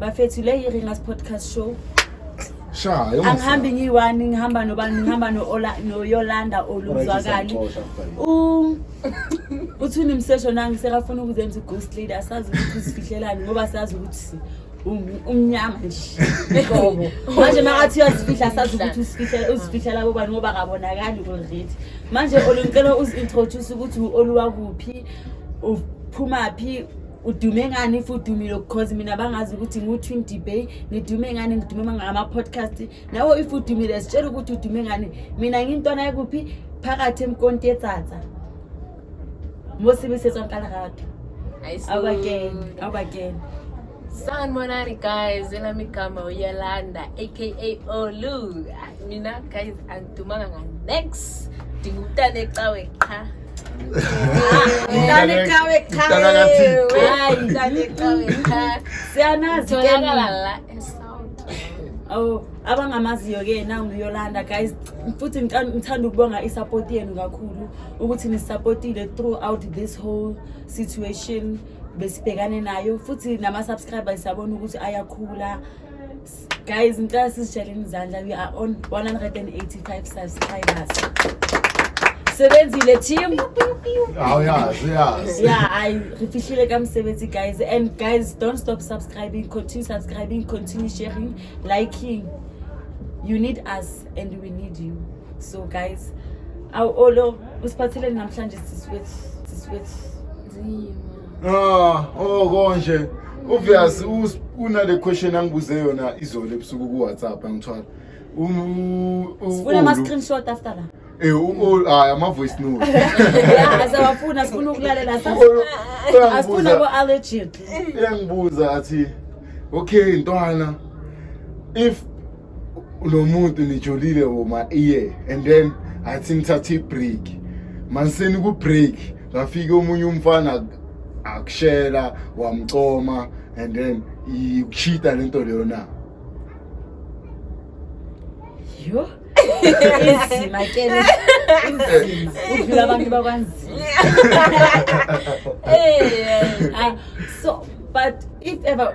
bafethu le yi-ringas podcast show Shaya. angihambi ngiyi-one ngihamba nobani ngihamba no-Ola- noyolanda oluzwakali U- uthuni msesho nangi sekafuna ukuzenza i-ghost lady asazi ukuthi uzifihlelani ngoba sazi ukuthi um- umnyama nje Qobo. manje makathi uyazifihla asazi ukuthi uzifihle- uzifihlela bobani ngoba kabonakali kolredi manje olu ngicela uzi-introduce ukuthi u-oluwakuphi uphumaphi udume ngani if udumile because mina bangazi ukuthi ngu-twenty bay ngidume ngani ngidume ngama-podcast nawe if udumile sitshela ukuthi udume ngani mina ngintwana yakuphi phakathi emkonti yetsatsa mosebesetswa nkalarato awubakeni awubakeni sanibonani guys elami igama uyalanda aka olu mina guys angidumanga nganex ndingumntana ecawe qha Oh, abangamaziyo ke nanguyolanda guys futhi ngithanda ukubonga isupport yenu kakhulu ukuthi nisupportile throughout this whole situation besibhekane nayo futhi nama subscribers sabona ukuthi ayakhula Guys, ngicela sizitsheleni izandla we are on 185 subscribers. Sebenzile team. Hawu yazi yazi. Yeah, I refihlile kamsebenzi guys and guys don't stop subscribing, continue subscribing, continue sharing, liking. You need us and we need you. So guys, awolo usiphatheleni namhlanje siswethu siswethu. Zima. Ah, oh konje. Obvious una le question angibuze yona izolo ebusuku ku WhatsApp angithwala. Um Sifuna ama screenshot after la. Eh u hayi ama voice note. Yeah, asawafuna sifuna ukulalela asifuna ko allergy. Uyangibuza athi okay ntwana if unomuntu nijolile woma iye and then athi nithathe i-break maniseni ku-break ngafike omunye umfana akushela wamcoma and then ikushita le nto leyo na yho inzima ke inzima udlula abantu bakwanzima so but if ever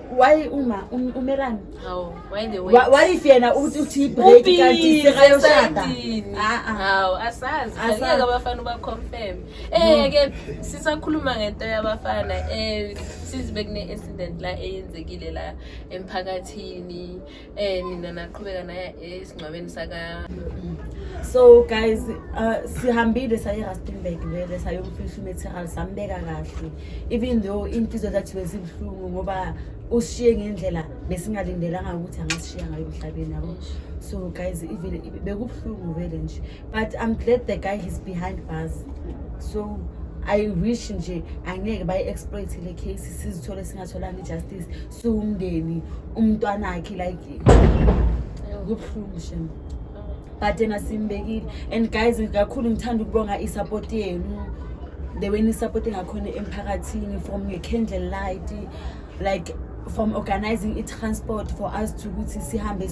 why uma um- umelani Hawu, why the way? Wa- what if yena uthi uthi break Ubhizi kanti sekayoshada esayidini. Ah, ah. Hawu, asazi Asazi. angeke abafana ubaconfirm eh ke sisakhuluma ngento yabafana eh sizi bekune incident la eyenzekile la emphakathini eh mina naqhubeka naye esingcwabeni saka so guys uh, sihambile saye Rustenburg vele sayomfihla umaterial sambeka kahle even though inhliziyo zathi bezibuhlungu ngoba ushiye ngendlela besingalindelanga ukuthi angasishiya ngayo emhlabeni yabo so guys even bekubuhlungu vele nje but i'm glad the guy is behind bars so i wish nje angeke bayi-exploit le case sizithole singatholanga i-justice siwumndeni umntwana akhe like kubuhlungu shem but yena simbekile and guys kakhulu ngithanda ukubonga i-support yenu the way ni-support ngakhona emphakathini from nge-candle light like from organizing i-transport for us to ukuthi sihambe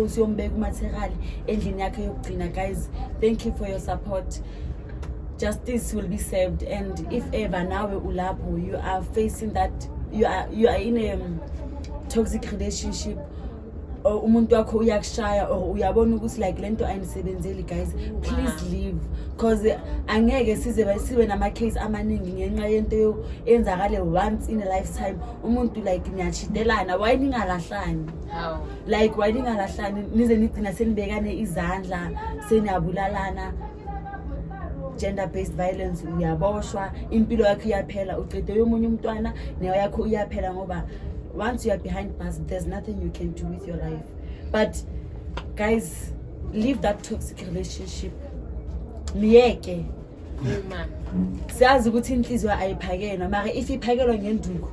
siyombeka umaterial endlini yakhe yokugcina guys thank you for your support justice will be served and if ever nawe ulapho you are facing that you are, you are in a um, toxic relationship or umuntu wakho uyakushaya or uyabona ukuthi like le nto ayindisebenzeli guys please leave because angeke size sibe nama-case amaningi ngenxa yento enzakale once in a lifetime umuntu like niyachidelana waye ningalahlani like waye ningalahlani nize nigcina senibekane izandla seniyabulalana gender based violence uyaboshwa impilo yakho iyaphela ucede yomunye umntwana nayo yakho iyaphela ngoba once you are behind bars there's nothing you can do with your life but guys leave that toxic relationship myeke siyazi ukuthi inhliziyo ayiphakelwa mara if iphakelwa ngenduku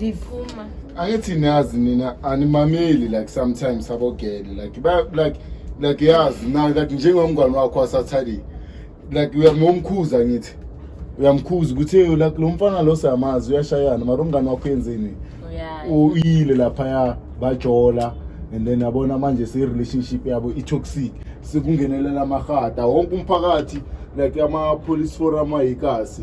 liphuma angithi niyazi nina animameli like sometimes abogele like ba- like like yazi na like njengomngane wakho wasathali like uyamomkhuza ngithi uyamkhuza ukuthi "Eyo, like lo mfana lo siyamazi uyashayana mara umngane wakho yenzeni uyayi uyile laphaya bajola and then yabona manje se-relationship yabo i-toxic sekungenelela amahata wonke umphakathi like ama-police forum ayikasi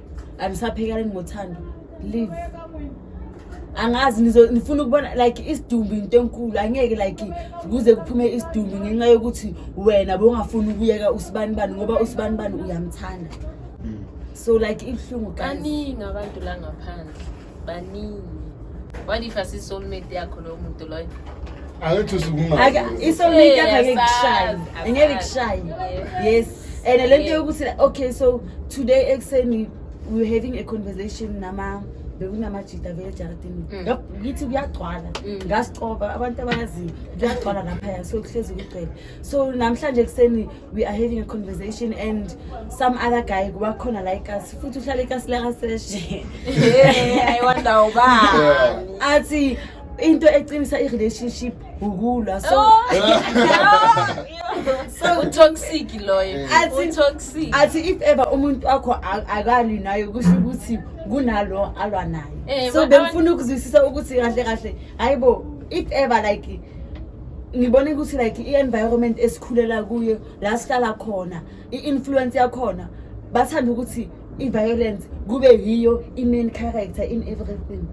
anisaphekeleni ngothando leave angazi nifuna ukubona like isidumbu into enkulu angeke like kuze kuphume isidumbu ngenxa yokuthi wena bongafuni ukuyeka usibani bani ngoba usibani bani uyamthanda hmm. so like ibuhlungu kaningi abantu la ngaphandle baningi what if asisoulmate yakho lowo muntu loyo angithi usukumali isoulmate yakho angeke kushaye angeke kushaye yes and le nto yokuthi okay so today ekuseni we were having a conversation nama bekunamajida vele ejaradini mm. ngithi kuyagcwala mm. ngasicoba abantu abayaziyo kuyagcwala laphaya so kuhlezi kugcwele so namhlanje ekuseni we are having a conversation and some other guy wakhona like us futhi uhlala ikasi lakaseshe ayiwandawo ba athi into eqinisa i-relationship ukulwa so oh. so utoxic loyo utoxic athi if ever umuntu wakho akalwi nayo kusho ukuthi kunalo alwa naye eh, so bengifuna ukuzwisisa ukuthi kahle kahle hayibo if ever like ngibone ukuthi like i-environment esikhulela kuyo la sihlala khona i-influence yakhona bathanda ukuthi i-violence kube yiyo i-main character in everything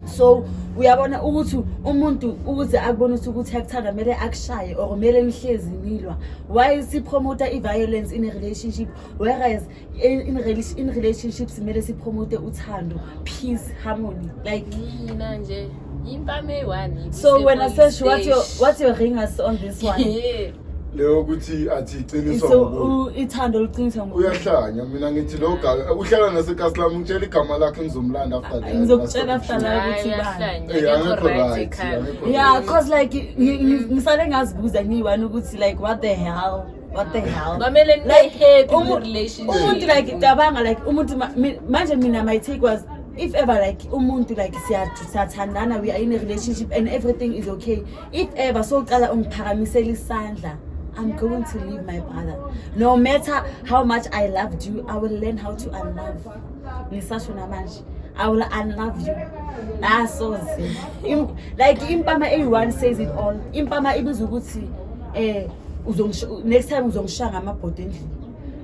so uyabona ukuthi umuntu ukuze akubone ukuthi ukuthi akuthanda kumele akushaye or kumele nihlezi nilwa why sipromota i-violence in a relationship whereas in, in, rela- in relationships kumele sipromote uthando peace harmony like mina nje impama eyi-one so wena sesh what's your, what's your ring us on this one Yeah. leyo ukuthi athi iqiniswa so ngumuntu u- ithando oluqiniswa ngo uyahlanya mina ngithi lo ga- uhlala nasekasi lami ngitshela igama lakhe ngizomlanda after that. Ngizokutshela after That's that. Hayi, ukuthi bani. uyahlanya, Eh, akekho akekho right right, ekhanda. akekho yeah cause like ngi- ngi- ngisale ngazibuza ngiyi-one ukuthi like what the hell What the hell? Mamele nibe Like, happy umu- umuntu relationship. like cabanga like umuntu ma- mi- manje mina my take was if ever like umuntu like siya- siyathandana we are in a relationship and everything is okay if ever soqala ungiphakamisela isandla i'm going to leave my brother no matter how much i loved you i will learn how to unlove ngisasho namanje i will unlove you asoze Im- like impama eyi-one says it all impama ibiza ukuthi um next time uzongishaya ngamabhodi endlini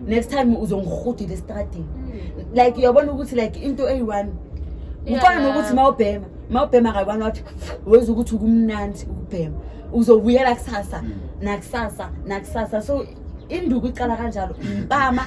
next time uzongirhudile estradini hmm. like uyabona ukuthi like into eyi-one kufana nokuthi ma ubhema ma ubhema kakwani wathi wenza ukuthi ukumnandi ukubhema uzobuyela kusasa hmm. nakusasa nakusasa so induku iqala kanjalo mpama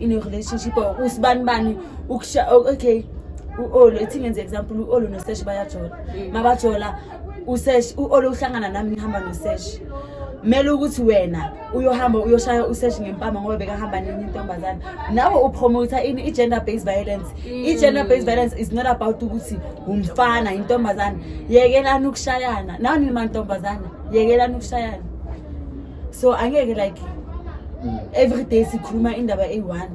in a relationship or usibani bani ukusha okay u-olo ithi ngenze example u-olo noseshi bayajola mm. mabajola useshi u-olo uhlangana nami ngihamba noseshi kumele ukuthi wena uyohamba uyoshaya useshi ngempama ngoba bekahamba nenye intombazane nawe upromota ini i-gender based violence mm. i-gender based violence is not about ukuthi umfana intombazane yekelani ukushayana nawe nimantombazane yekelani ukushayana so angeke like mm. every day sikhuluma indaba eyi-one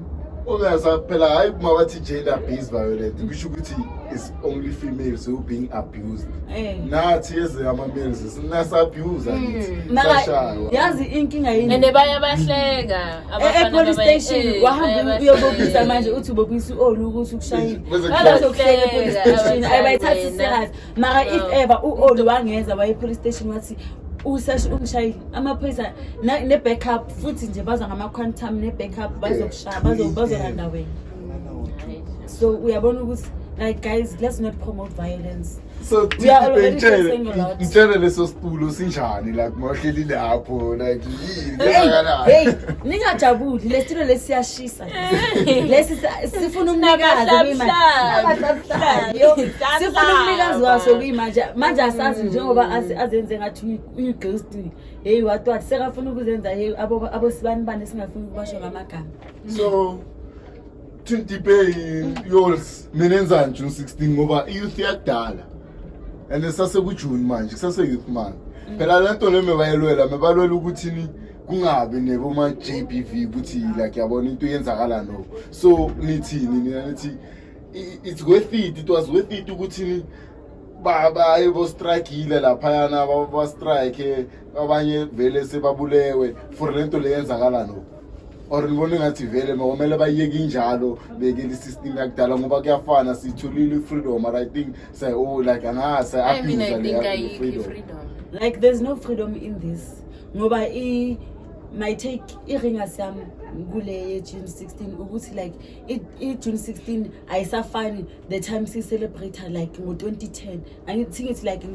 obuyasa phela hayi uma bathi gender based violence kusho ukuthi is only females who being abused eh. nathi eze ama-males sinasabuse hmm. yazi inkinga yini and baye bahleka eh, epolice station eh, wahamba uyobobisa manje uthi ubobisa u-olu ukuthi ukushayile bazokuhleka epolice station ayibayithathi serious mara if ever u-oli wangeza waye police station wathi usashi umshayeli amaphoyisa na- ne-backup futhi nje baza ngama-quantum ne-backup bazokushaya bazo- bazolanda wena so uyabona ukuthi like guys let's not promote violence so We are already ngitshele facing a lot. ngitshele leso sipulo sinjani like mahleli lapho like yini Hey, yenzakalani? hey, ningajabuli lesitulo lesiyashisa lesi sa- sifuna umnikazi kuyimanje Abahlabuhlayo. sifuna umnikazi waso kuyimanje manje asazi njengoba asi- azenze ngathi uyi- uyighosti heyi watwati sekafuna ukuzenza heyi abo- abosibani bani esingafuni ukubasho ngamagama so tintiphe yours mina enzani june 16 ngoba iyouth yakudala and sasekujuni manje kusase-youth month phela le nto le mebayelwela mebalwela ukuthini kungabi neboma j b v ukuthi like yabona into yenzakala no so nithini nina nithi it's worth it it was worth it ukuthi baye bostrikile laphayana bastrike abanye vele sebabulewe for le nto le yenzakala no or ngibona ngathi vele makumele bayiyeke injalo bekele isystem yakudala ngoba kuyafana sitholile i-freedom but i think say oh like angaha say-abuse like there's no freedom in this ngoba i my take i-ringers yam kule ye-june 16 ukuthi like i-june 16 ayisafani the time siyicelebrate like ngo-2010 angithi ngithi like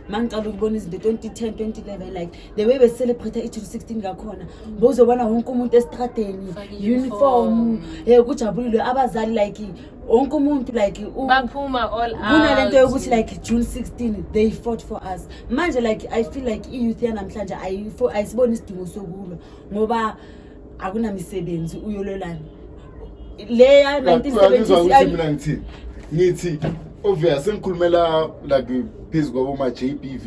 ma ngiqala ukubona izinto 2010 2011 like the way becelebrate i-june 16 ngakhona bowuzobona wonke umuntu esitradeni uniform um kujabulilwe abazali like wonke umuntu like baphuma all out kunalento yokuthi like June 16 they fought for us manje like i feel like i youth yanamhlanje ayisiboni isidingo sokulwa ngoba akunamisebenzi uyololana leya 1970 ngithi obvious sengikhulumela like phezu kwaboma JBV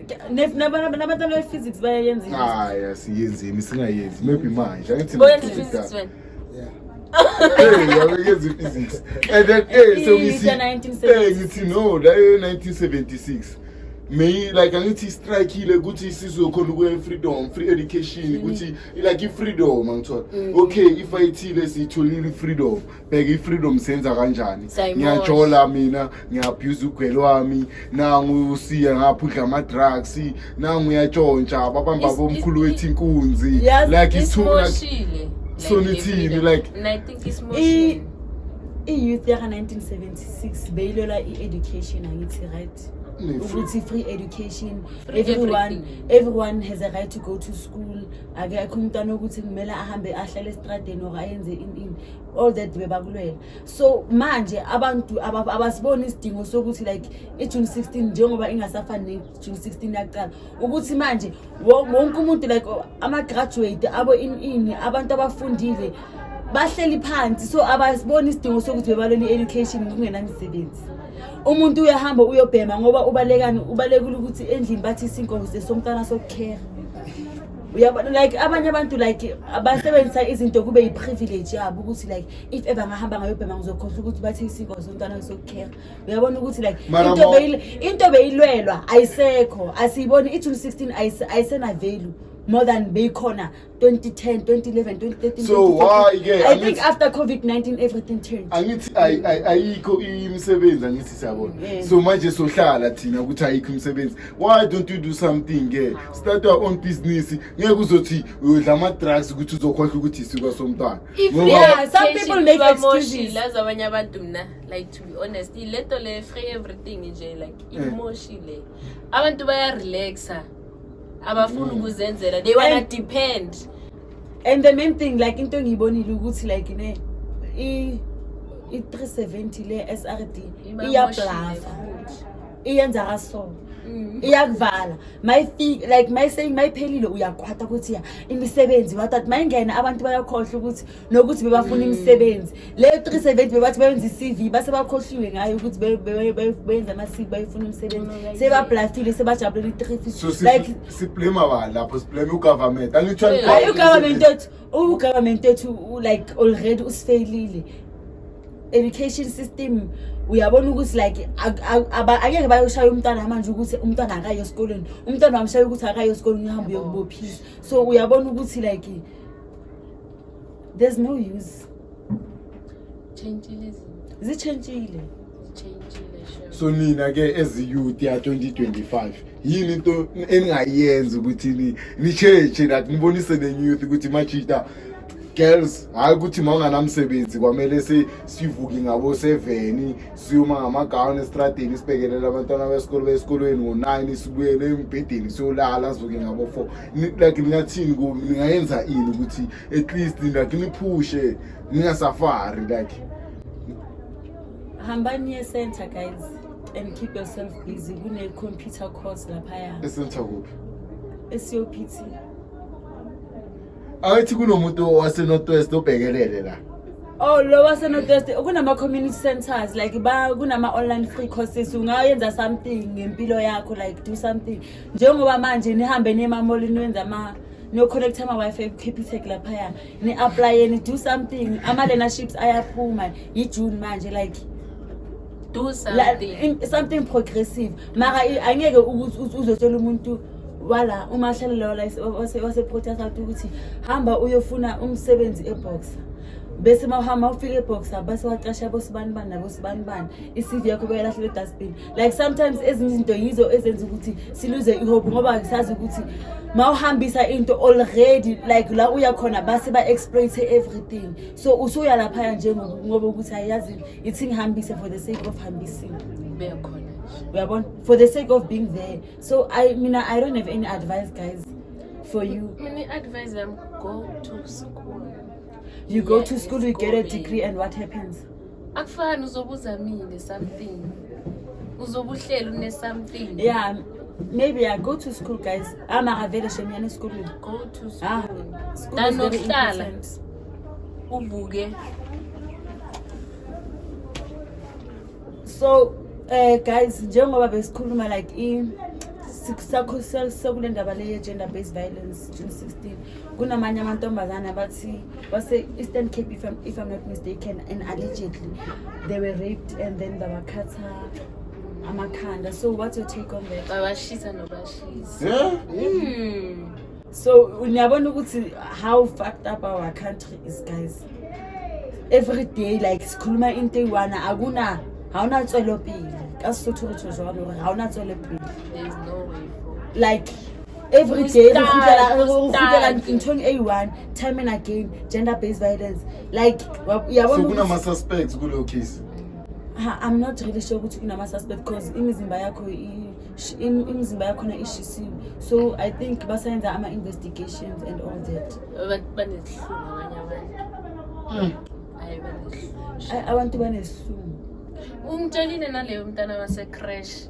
nabantwana be-physics bayayenza hayi asiyenzeni singayenzi maybe manje angithi boyenza i-physics wena yabekenza i-physics and then eh sengithi eh ngithi no la 1976 may like angithi istrikile ukuthi isizwe khona ukuya freedom free education ukuthi like i-freedom angithola okay if ayithile siyitholile i-freedom bheka i-freedom senza kanjani Sayimosha. ngiyajola mina ngiyabuza ugwele wami nangu usiya ngapha udla ama-drugs nangu uyatshontsha babamba Is- bomkhulu is- wethu inkunzi Yazi, like it's too like isimoshile. so Like, nithini, le- like- And I think isimoshile. i-youth yaka-1976 beyilwela i-education angithi right ne- ukuthi free education Free everyone everything. everyone has a right to go to school akekho umntwana ukuthi kumele ahambe ahlale esitradeni or ayenze ini ini all that bebakulwela so manje abantu abasiboni isidingo sokuthi like i-june 16 njengoba ingasafani ne-june 16 yakuqala ukuthi manje wonke umuntu like ama-graduate abo ini abantu abafundile bahleli phansi so abasiboni isidingo sokuthi bebalwela i-education kungenamisebenzi umuntu uyahamba uyobhema ngoba ubalekani ubalekile ukuthi endlini bathi isinkosi somntwana sokukhera uyabo like abanye abantu like abasebenzisa izinto kube yi-privilege yabo ukuthi like if ever ngahamba ngayobhema ngizokhohlwa ukuthi bathe isiko somntwana sokukhera uyabona ukuthi like Mara into mo- beyil- into beyilwelwa ayisekho asiyiboni i-june 16 ayise- ayisenavelu more than beyikhona 2010 2011 2013 So why ke? i think Angithi- after covid-19 everything changed angithi ay- ay- ayikho imisebenzi angithi siyabona Yeah. so manje sohlala thina ukuthi ayikho imisebenzi why don't you do something ke start your own business ngeke uzothi uyodla ama-drugs ukuthi uzokhohlwa ukuthi isiko somntwana If Ngoba- Yeah, some Education people make kuba more excuses. shila zabanye abantu mna like to be honest ilento le free everything nje like Eh. imoshi le abantu bayarelaxa abafuni ukuzenzela they wanna depend and the main thing like into engiyibonile ukuthi like ne i i 370 le SRD iyablafa iyenza kaso Mm. iyakuvala mayifika like mayiseying mayiphelile uyakwata ukuthi ya imisebenzi wathat mayingena abantu bayakhohlwa ukuthi nokuthi bebafuna mm. imisebenzi leyo 370 bebathi bayenza i-cv base bakhohliwe ngayo ukuthi be- be- be- benza ama-cv bayifuna umsebenzi sebablafile sebajabulele i-350 so like siblema ba lapho siblema ugovernment angitsho Yeah. hayi ugovernment wethu ugovernment wethu u- like already usifeyilile education system uyabona ukuthi like ak- ak- aba- angeke bayoshaya umntwana manje ukuthi umntwana akayo esikoleni umntwana wamshaya ukuthi akayo esikoleni uhambe uyokubophisa so uyabona ukuthi like there's no use Tshentshile izinto. zitshentshile Tshentshile sure. so nina ke as youth ya 2025 yini into eningayenza ukuthi ni- ni-change that nibonise nenye youth ukuthi machita girls hhayi ukuthi ma unganamsebenzi kwamele si- sivuke ngaboseveni siyoma ngamagawuni esitradeni isibhekelele abantwana besikolo besikolweni ngo-nine sibuyele embhedeni siyolala sivuke ngabo-four Ni- like ningathini ku- ningayenza ini ukuthi at least like niphushe ningasafari like hambani ye center guys and keep yourself busy kune computer course laphaya esentha kuphi esiyopt ayithi kunomuntu wasenorthwest obhekelele la oh lo wasenorthwest kunama-community centers like ba kunama-online free courses ungayenza something ngempilo yakho like do something njengoba manje nihambe nemamoli niwenza ama niyoconnecta ama-wifi ekukhipitec laphaya ni-aplayeni do something ama-learnerships ayaphuma yijune manje like do something, something progressive mara angeke uzotshela umuntu wala uma ahlalela wala waseprotest out ukuthi hamba uyofuna umsebenzi eboxa bese mawuhamba ufike eboxa base wacasha bosibani bani nabosibani bani i-cv yakho beyalahlela edustbin like sometimes ezinye izinto yizo ezenza ukuthi siluze ihope ngoba sazi ukuthi ma uhambisa into already like la uya khona base ba-exploite everything so usuya laphaya nje ngoba ukuthi ayazi ithi ngihambise for the sake of hambising bekhona uyabona for the sake of being there so i mina i don't have any advice guys for you mina i-advice yam go to school you go yeah, to school you get a degree and what happens akufani uzobe uzamile something uzobe uhleli une something yeah maybe i go to school guys amakavele shemyana esikolweni go to ah, school ah, school danokuhlala uvuke so uh, guys njengoba besikhuluma like i sakho sekule ndaba le ye-gender based violence june 16 kunamanye amantombazane abathi base-eastern cape if I'm, if i'm not mistaken and allegedly they were raped and then babakhatha amakhanda so what's your take on that babashisa nobashisa yeah? mm. so niyabona ukuthi how fucked up our country is guys every day like sikhuluma into eyi-one akuna awunatswelopele kasisuthu ukuthi uzwalo awunatswelopele like every day re kgutlela- re kgutlela nthong e one time and again gender based violence like wa- ya so bona ukuthi- kunama-suspects kuleyo case Ha, i'm not really sure ukuthi kunama-suspect because imizimba yakho i- sh- im- imizimba yakhona ishisiwe so i think basayenza ama-investigations and all that abantu banezihlungu abanye abantu hayi banezihlungu A- abantu banezihlungu umtshelile naleyo mntana wasecrash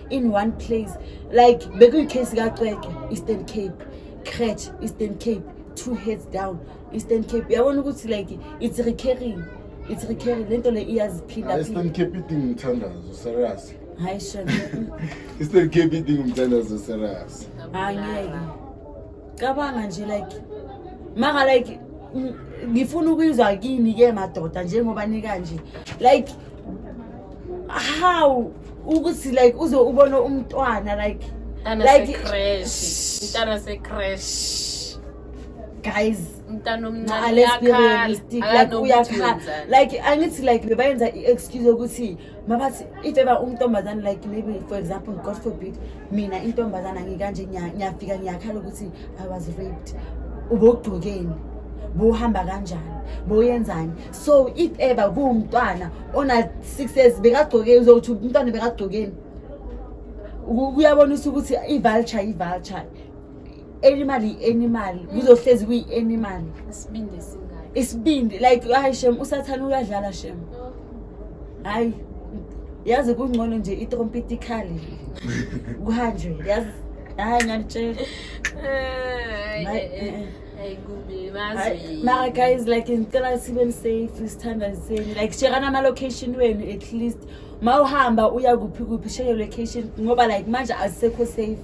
in one place like bekuyikhesi kacwecwe eastern cape cratch eastern cape two heads down eastern cape yabona ukuthi like it's recurring it's recurring le nto le iyaziphinda eastern cape idinga umthandazo serious hayi shem eastern cape idinga umthandazo serious angeke cabanga nje like maka like ngifuna ukuyizwa kini ke madoda njengoba nikanje like how ukuthi like uze ubone umntwana like like crash mntana se crash guys mntana omncane like uyakhala like angithi like bebayenza i excuse ukuthi mabathi if ever untombazane like maybe for example god forbid mina intombazane angikanje ngiyafika ngiyakhala ukuthi i was raped ubogqokeni buhamba kanjani boyenzani so if ever kuwumntwana ona-six years bekagcoke uzokuthi umntwana bekagcokeni kuyabonisa ukuthi i-vulture i-vulture animal yi-animal kuzohlezi kuyi-animal isibindi singaki isibindi like hayi shem usathane uyadlala shem hayi yazi kungcono nje itrompet ikhali kuhanjwe yazi hayi nganitshela mara guys like ngicela sibe nisafe sithanda niseni like shekana ama-location wenu at least ma uhamba uya kuphi kuphi sheke location ngoba like manje azisekho safe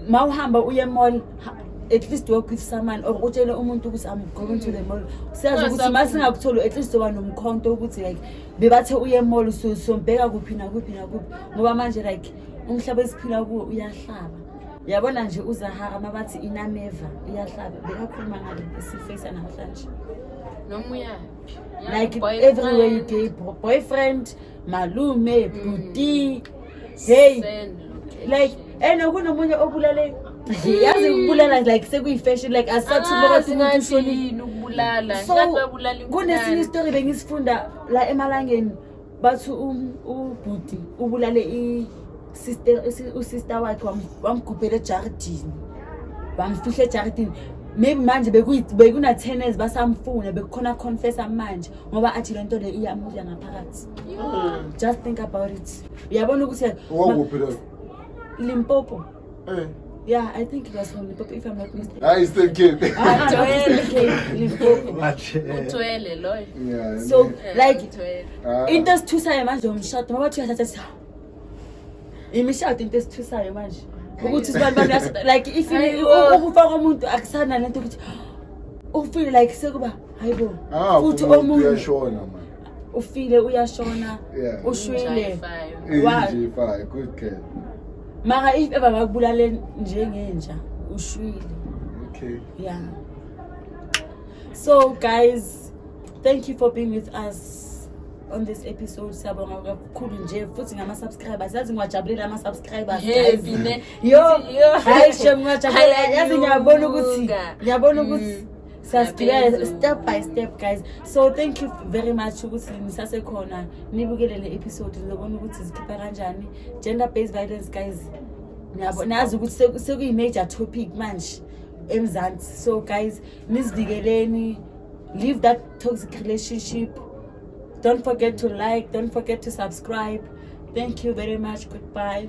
mawuhamba uye mall at least work with someone or utshele umuntu ukuthi i'm going to the mall siyazi ukuthi uma singakutholi at least oba nomkhonto ukuthi like bebathe uye mall so sombheka kuphi nakuphi nakuphi ngoba manje like umhlaba esiphila kuwo uyahlaba yabona nje uzahara uma bathi inameva iyahlaba bekakhuluma ngale esifeyisa namhlanje noma uyayo like everywhere you gay boyfriend malume mm. bhuti mm. hey like and kunomunye obulale yazi ukubulala like sekuyi-fashion like asathubaathimuntuyini ukubulala so kunesinye isitori bengisifunda la emalangeni bathi um, ubhuti ubulale usister wakhe wamgubhela ejardini wamfihla ejardini maybe manje bekuna-ten years basamfuna bekukhona confessa manje ngoba athi le nto le iyamudla ngaphakathi Mm. Just think about it. Uyabona ukuthi wakuphi lo? Limpopo. Eh. Yeah, I think it was from Limpopo if I'm not mistaken. Ah, it's the kid. Ah, Joel Limpopo. Utwele eh. loyo. Yeah. So eh, like ah. into esithusayo manje umshado ngoba thi uyathatha imishado into esithusayo manje ukuthi sibani bani like if ukufa komuntu akusana lento ukuthi ufeel like sekuba hayibo ah, futhi omuntu uyashona manje ufile uyashona Yeah. ushwile Ngijayifayo. Eh, Wa- ngijayifayo, good girl. mara if ever bakubulale njengenja ushwile Okay. yeah so guys thank you for being with us on this episode siyabonga kakhulu nje futhi ngama-subscribers yazi ngiwajabulela ama-subscribers guys. Heavy ne. yo Yo. hayi shem ngiwajabulela Hayi, yazi ngiyabona ukuthi anyuka. ngiyabona ukuthi Mm. siyasibhikela step by step guys so thank you very much ukuthi nisasekhona nibukele le episode nizobona ukuthi zikhipha kanjani gender based violence guys niyabo nazi ukuthi sekuyi-major topic manje emzansi so guys nizivikeleni leave that toxic relationship don't forget to like don't forget to subscribe thank you very much goodbye